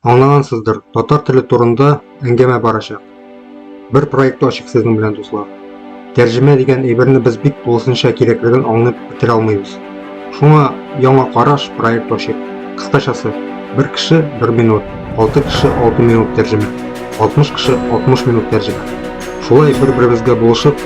Аңлагансыздыр, татар теле турында әңгәмә барачак. Бер проектта ачык сезнең белән дуслар. Тәрҗемә дигән әйберне без бик тулысынча кирәклеген аңлап бетерә алмыйбыз. Шуңа яңа караш проект ачык. Кыскачасы, бер кеше бер минут, алты кеше алты минут тәрҗемә, 60 кеше 60 минут тәрҗемә. Шулай бер-беребезгә булышып,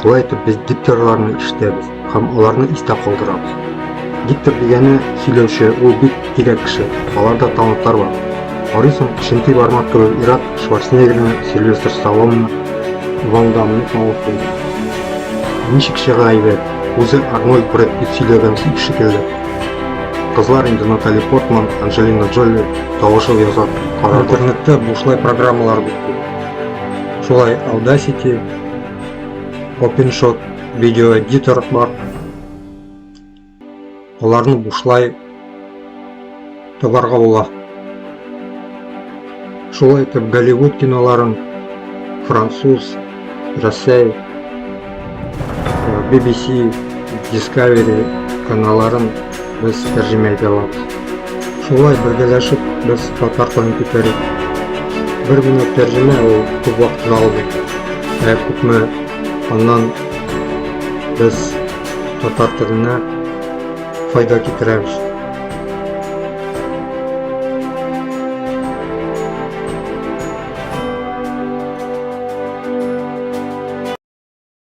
Шулай итеп без дикторларны ишетәбез һәм аларны истә калдырабыз. Диктор дигәне сөйләүче, ул бик тирәк кеше. Аларда талантлар бар. Арыйсың, Шенти бармак кебек Ират Шварценеггерны, Сильвестр Сталлоне, Ван Дамны талантлый. Ничек чыга әйбәт, үзе Арнольд Брэд Питт сөйләгән сүз шикелле. Кызлар инде Натали Портман, Анджелина Джоли тавышы яза карар. Интернетта бушлай программалар бик күп. Шулай Audacity, OpenShot видео эдитор бар. Аларны бушлай табарга була. Шулай итеп Голливуд киноларын француз, Россия, BBC, Discovery каналларын без тәрҗемә итә алабыз. Шулай бергәләшеп без татар телен күтәрик. Бер генә тәрҗемә ул күп вакытны алмый. Ә күпме аннан без татар теленә файда китерәбез.